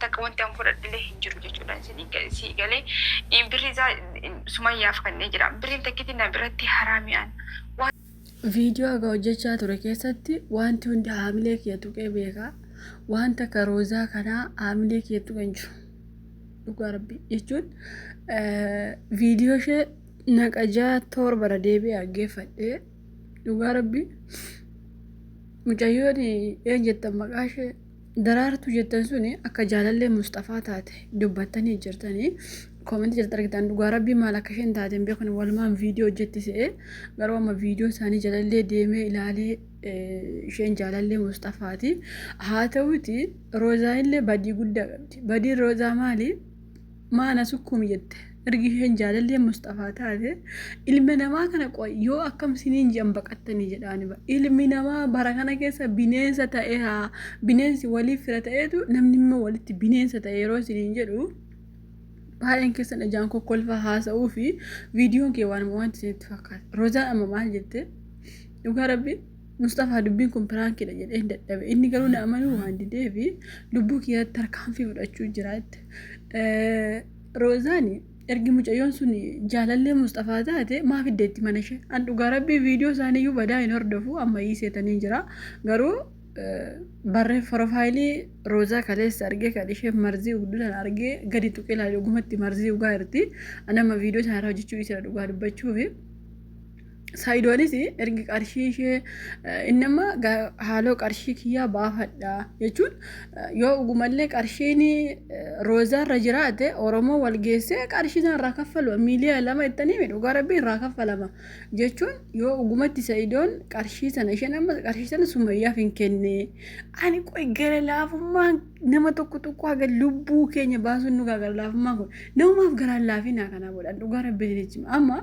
takka wanti an fudhadhillee hin jiru jechuudha isinii ga- sii galee in birri isaa in- sumayyaaf kannee jira birriin takkiti na biratti haraami an waan Viidiyoo haga hojjechaa ture keessatti wanti hundi haamilee kiyya tuqee beekaa waan takka roozaa kanaa haamilee kiyya tuqe hin jiru. Dhugaa rabbi jechuun eh, viidiyoo ishee naqa ja'a torbara deebi'ee dhaggeeffadhee dhugaa rabbi mucayyoon een jettan maqaa ishee Daraartuu jettan suni akka jaalallee musxafaa taate dubbattanii jirtanii koomentii jalatti argitan dhugaa rabbii maal akka isheen taate hin beekne walumaan viidiyoo hojjetti se'ee garuu amma viidiyoo isaanii jalallee deemee ilaalee eh, isheen jaalallee musxafaati haa ta'uti roozaa illee badii guddaa qabdi badiin roozaa maali Maana sukkuum jette. Ergi isheen jaalalleen Musxafaa taate ilma namaa kana qoy yoo akkam siniin ji'an baqattanii jedhaani ba. Ilmi namaa bara kana keessa bineensa ta'eera. Bineensi waliif fira ta'eetu namni immoo walitti bineensa ta'e yeroo siniin jedhu baay'een keessan ijaan kokkolfaa haasa'uu fi viidiyoon kee waanuma wanti isinitti fakkaata. Rozaan amma maal jette? Dhugaa rabbi Musxafaa dubbiin kun piraankiidha jedheen dadhabe. Inni garuu na amanuu waan didee fi lubbuu kiyyaatti tarkaanfii fudhachuu jira jette. Roozaan ergi mucayyoon sun jaalallee Musxafaa taate maaf iddeetti mana ishee. An dhugaa rabbii viidiyoo isaanii iyyuu badaa hin hordofu amma ii seetanii jira. Garuu barree profaayilii Roozaa kaleessa argee kan ishee marzii ugduu sana argee gadi tuqee laale ogumatti marzii ugaa jirti. An amma viidiyoo isaanii irraa hojjechuu dhiisera dhugaa dubbachuufi. Saayidoonis ergi qarshii ishee inni amma haaloo qarshii kiyyaa baafadha jechuun yoo dhugumallee qarshiin roozaarra jiraate Oromoo wal geessee qarshii sana irraa kaffalama miiliyoona lama ittanii miidhu gara rabbii irraa kaffalama jechuun yoo dhugumatti sayidoon qarshii sana isheen amma qarshii sana sumayyaaf hin kenne ani qoy gara laafummaan nama tokko tokko haga lubbuu keenya baasuun nu gara laafummaan kun namumaaf garaan laafinaa kanaa godhan dhugaa rabbii jechuun amma.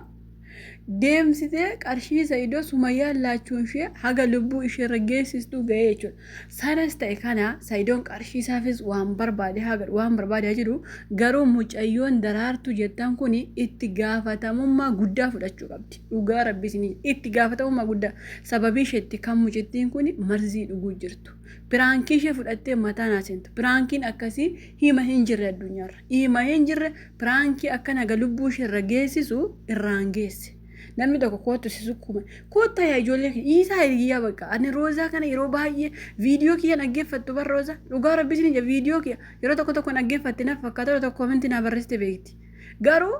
deemsitee qarshii Sa'idoo Sumayyaan laachuunshee haga lubbuu isheerra geessistuu ga'ee jechuudha. Sanas ta'e kana Sa'idoon qarshii isaafis waan barbaade haa godhu waan barbaade haa jedhu garuu mucayyoon daraartuu jettan kun itti gaafatamummaa guddaa fudhachuu qabdi. Dhugaa rabbi isin itti gaafatamummaa guddaa sababii isheetti kan mucittiin kun marzii dhuguu jirtu. Piraankii ishee fudhattee mataan haa seentu. Piraankiin akkasii hima hin jirre addunyaarra. Hima hin jirre Piraankii akkan haga lubbuu ishee irra geessisu irraan geesse. Namni tokko koottu si sukkuume. Koottaa yaa ijoollee kee dhiisaa hiriyyaa bakka. Ani roozaa kana yeroo baay'ee viidiyoo kiyya dhaggeeffattu bar roozaa. Dhugaa rabbi isin ija viidiyoo kiyya yeroo tokko tokko dhaggeeffatte naf fakkaata yeroo tokko koominti naa barreessite beekti. Garuu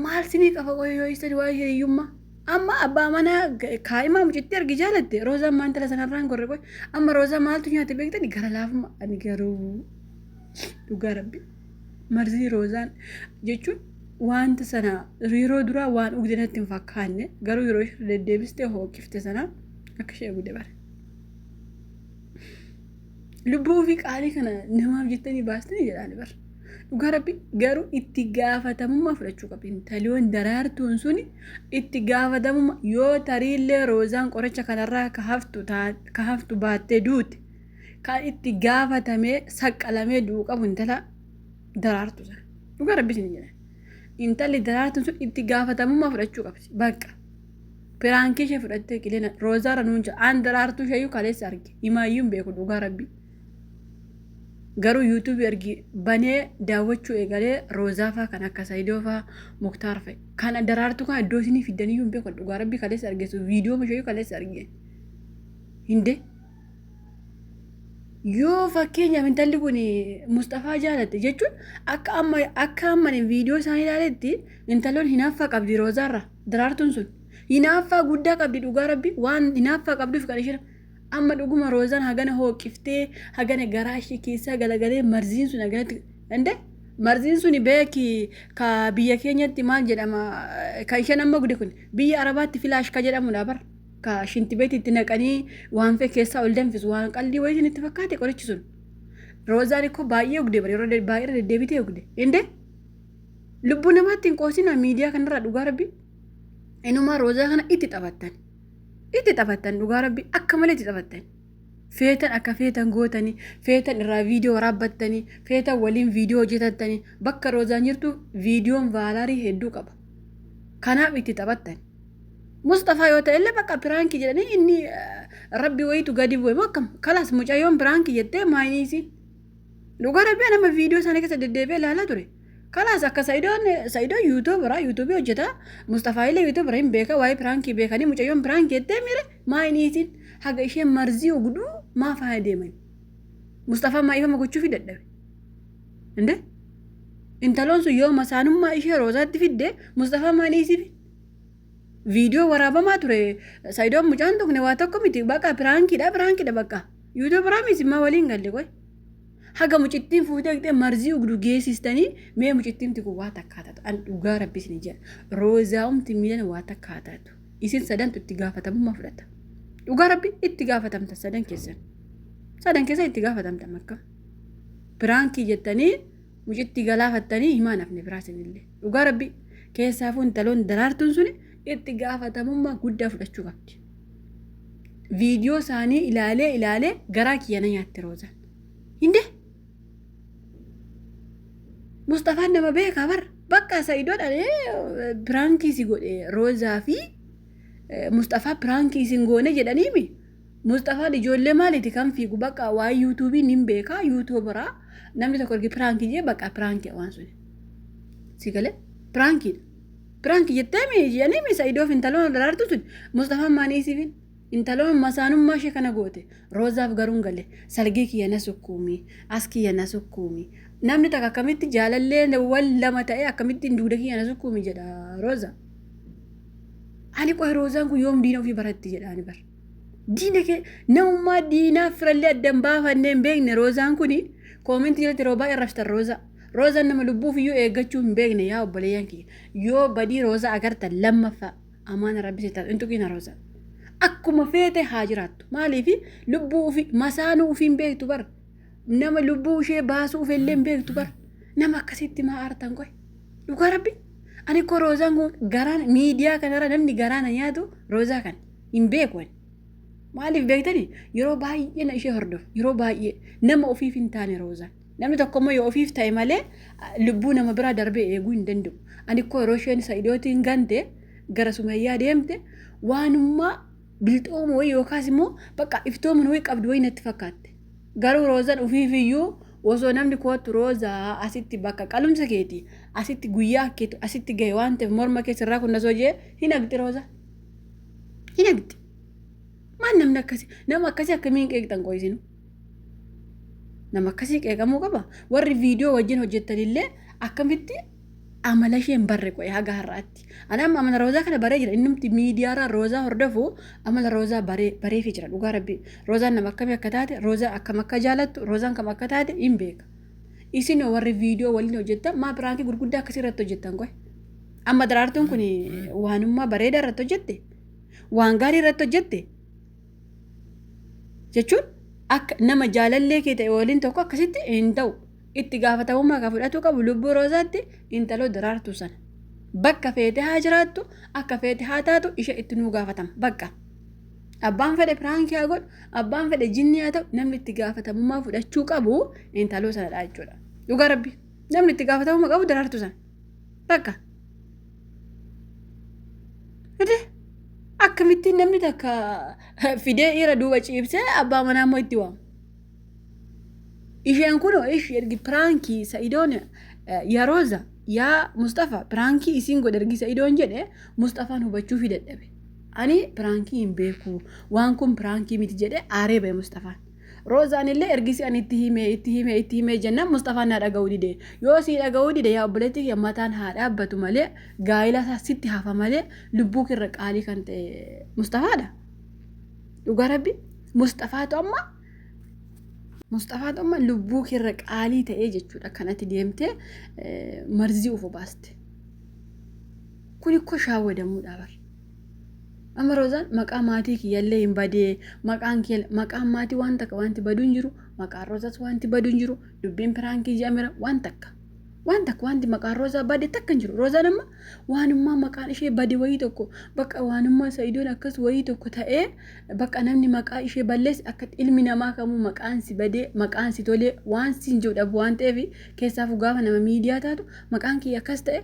maal sinii qaba qoyoo yoo istan waa'ee hiriyyummaa. Amma abbaa manaa kaa'imaa mucittii argi jaalatte roozaan maan tala sanarraan gorre qoy. Amma roozaa maaltu nyaate beektani gara laafummaa ani garuu dhugaa rabbi. marzii roozaan jechuun wanta sana yeroo duraa waan dhugde natti hin fakkaanne garuu yeroo ishee deddeebiste hooqifte sana akka ishee dhugde bare. Lubbuu ofii qaalii kana namaaf jettanii baastanii jedhaan bara. Dhugaa rabbi garuu itti gaafatamummaa fudhachuu qabdi. Intaliiwwan daraartuun suni itti gaafatamummaa yoo tariillee roozaan qoricha kanarraa ka haftu taa- ka haftu baattee duute kan itti gaafatamee saqqalamee du'u qabu intala daraartu sana. Dhugaa rabbi isin jedha. Intalli daraartuun sun itti gaafatamummaa fudhachuu qabdi. Bakka. Piraankii ishee fudhattee qilina roozaarra nuun jedha. Aan daraartuu ishee iyyuu kaleessa arge. Imaayyuu hin beeku dhugaa rabbi. Garuu yuutuubii ergi banee daawwachuu eegalee roozaafaa kan akka sayidoofaa muktaar fa'i. Kan daraartuu kan iddoo isinii fiddaniyyuu hin beeku dhugaa rabbi kaleessa argeessu viidiyoo ishee iyyuu kaleessa arge. Hindee. yoo fakkeenyaaf intalli kun Musxafaa jaalatte jechuun akka amma akka amma viidiyoo isaan ilaaletti intaloon hinaaffaa qabdi Roozaarra daraartuun sun hinaaffaa guddaa qabdi dhugaa rabbi waan hinaaffaa qabduuf kan isheen amma dhuguma Roozaan hagana hooqiftee hagana garaa ishee keessaa galagalee marziin sun haganatti ande marziin sun beeki ka biyya keenyatti maal jedhama ka isheen amma gude kun biyya arabaatti filaash ka jedhamudha bara. ka shinti beeti itti naqanii waan fee keessaa ol danfisu waan qaldii wayitiin itti fakkaate qorichi sun. Roozaan ikkoo baay'ee ogde bari yeroo de- baay'ee deddeebitee ogde. Indee lubbuu namaatti hin qoosinaa miidiyaa kanarraa dhugaa rabbi. Inumaa roozaa kana itti taphattan. Itti taphattan dhugaa rabbi akka malee itti taphattan. Feetan akka feetan gootanii, feetan irraa viidiyoo waraabbattanii, feetan waliin viidiyoo hojjetattanii, bakka roozaan jirtu viidiyoon vaalaarii hedduu qaba. Kanaaf itti taphattan. Musxafaa yoo ta'e illee bakka piraanki jedhanii inni rabbi wayiitu gadi bu'e moo akkam kalaas mucayyoon piraanki jettee maayiniisi dhugaa rabbi nama viidiyoo isaanii keessa deddeebi'ee ilaalaa ture kalaas akka sa'idoon sa'idoon yuutuubara yuutuubii hojjeta musxafaa illee yuutuubara hin beeka waa'ee piraankii beekanii mucayyoon piraanki jettee miire maayiniisiin haga isheen marzii ogduu maa faaya deeman musxafaa maa ifama gochuufi dadhabe indee intaloon sun yoo masaanummaa ishee roozaatti fidde musxafaa maayiniisiifi Viidiyoo waraabamaa ture Sayidoon mucaan tuqne waa tokko miti baqa piraankiidha piraankiidha baqa yuutuubi raamiis immaa waliin galle qoy haga mucittiin fuutee dhaqxee marzii ugdu geessistanii mee mucittiin tiku waa takkaa taatu an dhugaa rabbi isin jedha roozaa'umti miilan waa takkaa taatu isin sadantu itti gaafatamummaa fudhata dhugaa rabbi itti gaafatamta sadan keessan sadan keessan itti gaafatamta makka piraankii jettanii mucitti galaafattanii himaan hafne biraa sinille dhugaa rabbi keessaafuu intaloon daraartuun suni itti gaafatamummaa guddaa fudhachuu qabdi viidiyoo isaanii ilaalee ilaalee garaa kiyya na nyaatte roozaan hinde musxafaan nama beekaa bar bakka sa'idoodha piraankii si godhe roozaa fi musxafaa piraankii isin goone jedhaniimi Musxafaan ijoollee maaliiti kan fiigu baqa waa'ee yuutuubii nin beeka yuutuubaraa namni tokko ergi piraankii jee baqa piraankii waan suni. Si galee piraankiidha. Piraanki jettee mi jedhanii mi sa'idoof intaloon daraartu sun Musxafaan maanii siifin intaloon masaanummaa ishee kana goote roozaaf garuun gale sargii kiyya na sukkuumi as kiyya na sukkuumi namni takka akkamitti jaalallee wal lama ta'ee akkamittiin duuda kiyya na sukkuumi jedha rooza. Ani qoy roozaan kun yoom diina ofii baratti jedha ani bara. Diina kee namummaa diinaa firallee adda hin baafannee hin beekne roozaan kuni koomentii jalatti yeroo baay'ee raftan roozaa. Roozaan nama lubbuuf iyyuu eeggachuu hin beekne yaa obboleeyyan kiyya. Yoo badii roozaa agartan lammaffaa amaana rabbi seetan hin tuqiina roozaa. Akkuma feete haa jiraattu. Maaliif lubbuu ofii masaanuu ofii hin beektu bara. Nama lubbuu ishee baasuu ofii illee hin beektu bara. Nama akkasitti maa aartan qoy. Dhugaa rabbi. Ani koo roozaan kun garaan miidiyaa kanarra namni garaana nyaatu roozaa kana. hin beeku ani. Maaliif beektani yeroo baay'ee na ishee hordofu yeroo baay'ee nama ofiif hin taane roozaan. Namni tokko immoo yoo ofiif ta'e malee lubbuu nama biraa darbee eeguu hin danda'u. Ani koo yeroo isheen sa'idootiin gante gara sumayyaa deemte waanummaa bilxooma wayii yookaas immoo bakka iftoomin wayii qabdu wayii natti fakkaatte. Garuu roozaan ofiif iyyuu osoo namni kootu roozaa asitti bakka qalumsa keeti asitti guyyaa keetu asitti gahe waan ta'eef morma keessa irraa kun nasoo jee hin haqxi roozaa. hin eegdi maal namni akkasi nama akkasii akkamiin qeeqxan qo'isinu nama akkasii qeeqamuu qaba warri viidiyoo wajjin hojjettanillee akkamitti amala isheen barre qo'e haga har'aatti ani amma amala roozaa kana baree jira innumti miidiyaarraa roozaa hordofu amala roozaa baree bareefi jira dhugaa rabbi roozaan nama akkamii akka taate roozaa akkam akka jaalattu roozaan kam akka taate hin beeka isin warri viidiyoo waliin hojjettan maa biraankii gurguddaa akkasii irratti hojjettan qo'e Amma daraartuun kun waanummaa bareedaa irratti hojjette waan gaarii irratti hojjette jechuun akka nama jaalallee kee ta'e waliin tokko akkasitti hin ta'u itti gaafatamummaa kan fudhatuu qabu lubbuu roozaatti intaloo daraartuu sana bakka feete haa jiraattu akka feete haa taatu ishee itti nuu gaafatama bakka abbaan fedhe piraankii haa godhu abbaan fedhe jinnii haa ta'u namni itti gaafatamummaa fudhachuu qabu intaloo sanadha jechuudha dhugaa rabbii. Namni itti gaafatamuma qabu daraartu san. Bakka. Fide akkamittiin namni takka fidee dhiira duuba ciibsee abbaa manaa immoo itti waamu. Isheen kun ish ergi piraankii sa'idoon yaa Rooza yaa Mustafa piraankii isiin godhe ergi sa'idoon jedhe Mustafaan hubachuu fi dadhabe. Ani piraankii hin beeku waan kun piraankii miti jedhe aaree ba'e Mustafaan. Roozaan illee ergisi ani itti himee itti himee itti himee jennaan Musxafaan naa dhaga'uu dide. Yoo sii dhaga'uu dide yaa obboleetti kiyya mataan haa dhaabbatu malee gaa'ila isaa sitti hafa malee lubbuu kirra qaalii kan ta'e Musxafaadha. Dhugaa rabbi Musxafaatu amma Musxafaatu amma lubbuu kirra qaalii ta'ee jechuudha kan ati deemtee marzii of obaaste. Kun ikkoo shaawwadamuudha bara. Amma Roozaan maqaa maatii kiyyallee hin badee maqaan kiyya maqaan maatii waan takka wanti baduu hin jiru maqaan Roozaas wanti baduu hin jiru dubbiin piraankii jaamira waan takka waan takka wanti maqaan Roozaa bade takka hin jiru Roozaan amma waanummaa maqaan ishee bade wayii tokko bakka waanummaa Sa'idoon akkas wayii tokko ta'ee bakka namni maqaa ishee balleessi akka ilmi namaa kamuu maqaan si badee maqaan si tolee waan siin jiru dhabu waan ta'eef keessaafu gaafa nama miidiyaa taatu maqaan kiyya akkas ta'e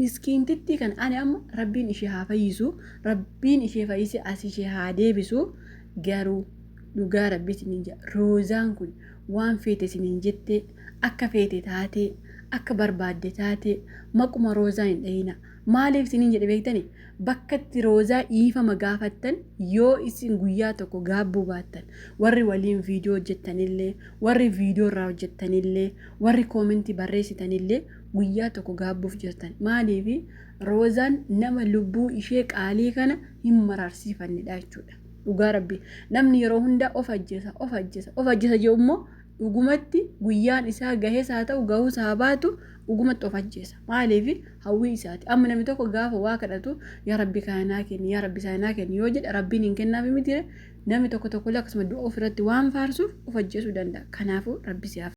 Miskiintittii kana ani amma rabbiin ishee haa fayyisu rabbiin ishee fayyise as ishee haa deebisu garuu dhugaa rabbii isiniin jedha roozaan kun waan feete isiniin jettee akka feete taatee akka barbaadde taatee maquma roozaa hin dhahina maaliif isiniin jedhe beektani bakkatti roozaa dhiifama gaafattan yoo isin guyyaa tokko gaabbuu baattan warri waliin viidiyoo hojjettanillee warri viidiyoo irraa hojjettanillee warri koomentii barreessitanillee guyyaa tokko gaabbuuf jirtan maaliif roozaan nama lubbuu ishee qaalii kana hin maraarsiifannedha jechuudha dhugaa rabbi namni yeroo hundaa of ajjeesa of ajjeesa of ajjeesa jedhu immoo dhugumatti guyyaan isaa gahees haa ta'u gahuus haa baatu dhugumatti of ajjeesa maaliif hawwii isaati amma namni tokko gaafa waa kadhatu yaa rabbi kana naa kenni yaa rabbi sana naa kenni yoo jedhe rabbiin hin kennaafi miti namni tokko tokkollee akkasuma du'a ofirratti waan faarsuuf of ajjeesuu danda'a kanaafuu rabbi siyaaf